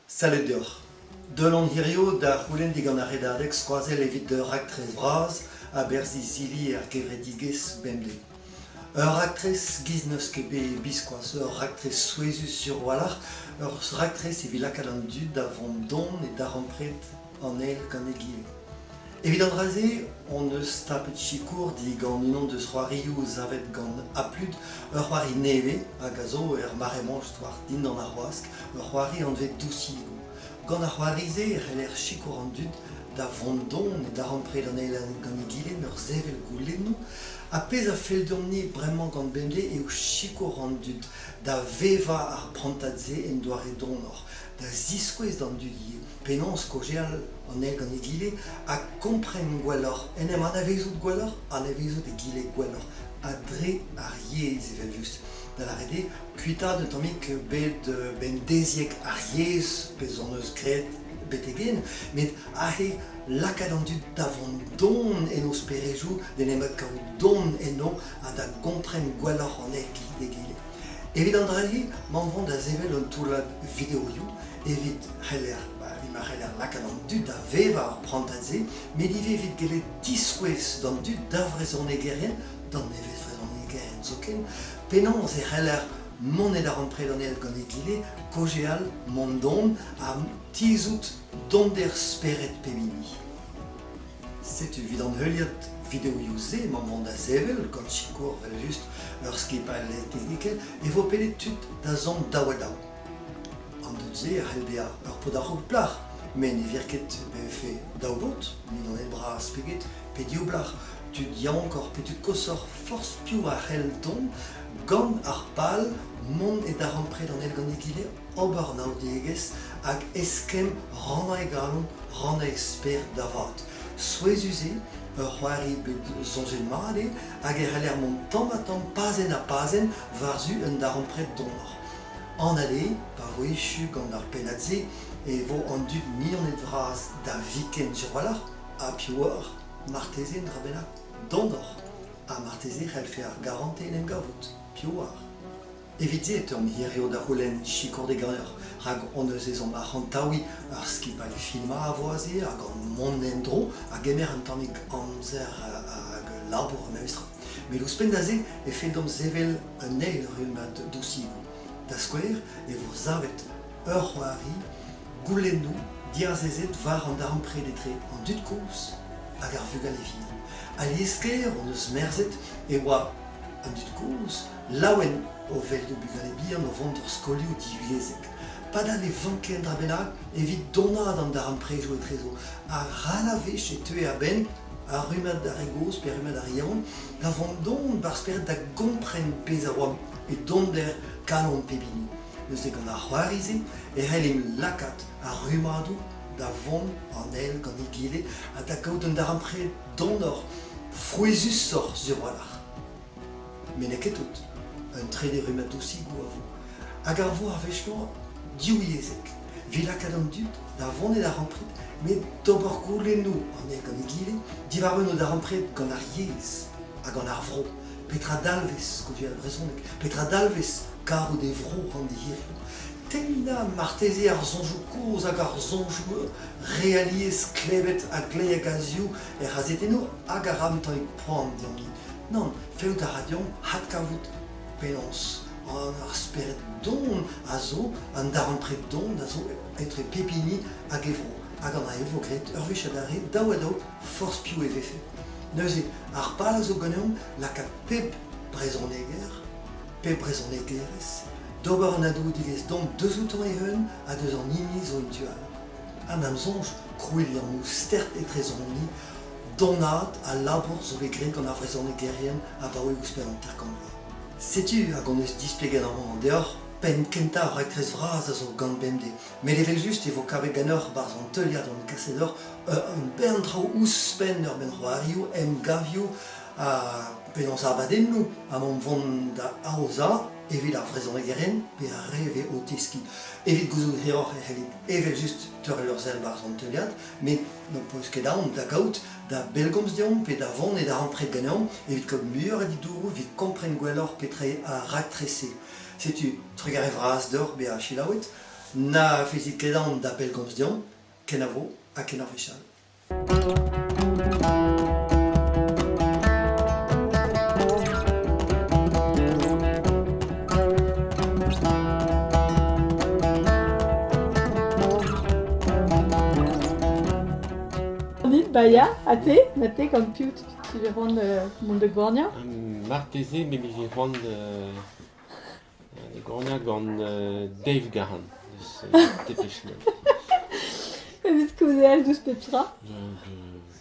Salud deoc'h. Deul on hiziv da c'houlenn digant ar redadeg skoazell evit ur raktres vras a-berzh izili ar gevredigezh bemdez. Ur raktres giz n'eus ket bet biskoazh, ur raktres souezhus sur-walc'h, ur raktres evit lakaat an dud da vont don e darempred an eil gant egile. Evit an dra-se hon eus tapet sikour digant unan deus c'hoarioù savet gant Aplud, ur c'hoari nevez hag a zo er mare-mañ war dindan ar wask, ur c'hoari anvet Dousigo. Gant ar c'hoari-se e c'heller sikour an dud da vont don e darempred an eil gant egile en ur sevel goulennoù. Ha pezh a fell deomp-ni bremañ gant bemdez eo sikour an dud da vevañ ar prantad-se en doare donoc'h, da ziskouez d'an dud ivez penaos kaozeal an eil gant egile ha kompren gwelloc'h, en em anavezout gwelloc'h, anavezout egile gwelloc'h, ha dre ar yezh evel-just. Da lâret eo, kuitaat un tammig bet euh, bemdeziek ar yezh, pezh hon eus graet betegen, met aze lakaat an dud da vont don en o sperezoù, d'en em kaout don enno ha da gompren gwelloc'h an eil egile. Evit an dra-se, m'am vont da sevel un toullad videoioù evit c'heller, ba, evit ma c'heller lakaat an dud da vevañ ar prantad-se, met ivez evit gellet diskouez d'an dud d'ar vrezhonegerien, d'an nevez-vrezhonegerien zoken, penaos e c'heller monet arampred an eil gant egile, kaozeal, mont don ha tizhout donder spered pep hini. Setu evit an heuliad videoioù-se emañ mont da sevel, gant sikour evel just ur skipailh technikel, e vo pedet tud da zont daou ha daou. An dud-se a c'hell bezañ ur paotr a-raok plac'h, met ne vir ket pe vefe daou baotr, mignoned bras pe get, pe div blac'h. Tud yaouank pe tud koshoc'h, forzh piv a c'hell dont gant ar pal mont e darempred an eil gant egile, ober anaoudegezh hag eskemm rannañ e galon, rannañ e sper da vat. Souezhus eo, ur c'hoari bet soñjet mat eo hag e c'heller mont tamm-ha-tamm pazenn-ha-pazenn war-zu un darempred donoc'h. Anat eo, pa vo echu gant ar pennad-se e vo an dud mignoned-vras da viken diwalc'h ha piv oar, marteze un dra bennak donoc'h. Ha marteze e c'hellfe ar garantez en em gavout, piv oar. Evit-se e teuomp hiziv da c'houlenn sikour d'e gañjer, rak hon eus ezhomm arc'hantaouiñ ur skipailh filmañ a vo aze hag hon mont en-dro a gemer un tammig amzer hag labour memestra. Met ouzhpenn da-se e feldomp sevel un eil rummad dosivoù. Da skouer e vo savet ur c'hoari goulennoù diazezet war an darempred etre an dud kozh hag ar vugale vihan. Alies-sklaer hon eus merzet e oa an dud kozh laouen o welout bugale bihan o vont d'ur skolioù divyezhek. Padal ne vanker dra bennak evit donaat an darempredoù etrezo. Ral a wech e teue a-benn ar rummad d'ar re gozh pe ar rummad d'ar re yaouank da vont don ba'r spered da gompren pezh a oa e donder kalon pep hini. Neuze gant ar c'hoari-se e c'hellem lakaat ar rummadoù da vont an eil gant egile ha da gaout un darempred donoc'h, frouezhusoc'h sur-walc'h. Met n'eo ket tout. Un trede rummad dosigoù a vo. Hag a vo ar wech-mañ div yezheg. Evit lakaat an dud da vont e darempred met d'ober goulennoù anezhe gant egile diwar un o darempred gant ar yezh ha gant ar vro. Petra dalvez skouer brezhoneg? Petra dalvez karout e vro an hiriv? Tennañ marteze ar soñjoù kozh hag ar soñjoù realiezh klevet a-gley a gazioù er c'hazetennoù hag ar ramtailhoù. poan deomp-ni. Nann, fellout a ra deomp adkavout penaos ar spered don a zo, an darempred don a zo etre pep hini hag e vro. Hag an e vo graet ur wech adarre, daou ha daou, forzh piv e vefe. Neuze, ar pal a zo ganeomp lakaat pep brezhoneger, pep brezhonegerez, d'ober an adoudigezh domp deus outan eeun ha deus an hini zo en tu all. An am soñj, krouiñ liammoù stert etrezomp-ni Donaat al labour zo bet graet gant ar vrezhonegerien abaoe ouzhpenn hanter-kant vloaz. Setu hag hon eus displeget amañ deoc'h penn kentañ ar raktres vras a zo gant bemdez, met evel-just e vo kavet ganeoc'h barzh an teuliad hon kaset deoc'h un bern traoù ouzhpenn ur bern c'hoarioù, emgavioù ha penaos abadennoù emaomp vont da aozañ evit ar vrezhonegerien pe ar re vez o teskiñ. Evit gouzout hiroc'h e c'hellit evel-just teurel ur sell barzh an teuliad Met n'ho peus ket aon da gaout da bellgomz deomp pe da vont e darempred ganeomp evit kaout muioc'h a ditouroù evit kompren gwelloc'h petra ar raktres-se. Setu trugarez vras deoc'h bezañ selaouet. Na fezit ket aon da bellgomz deomp, kenavo ha kenavo fechal. Vit Baia, ha te Ma te gant piv tu vez c'hoant euh, mont da Gornia euh, Marteze me vije c'hoant euh, da Gornia gant Dave Gahan deus Depechnel. Evit kouzell douzh pep tra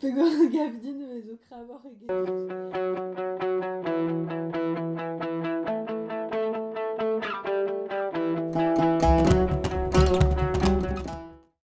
Pegwir a gav din e zo kravoc'h eget.